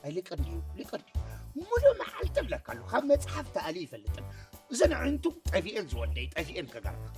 ኣይልቅን እዩ ልቅን ሙሉእ መዓልቲ እብለካ ኣለኹ ካብ መፅሓፍ ተኣልዩ ይፈልጥን እዘን ኣዒንቱ ጠፊኤን ዝወደይ ጠፊኤን ከጋርፈካ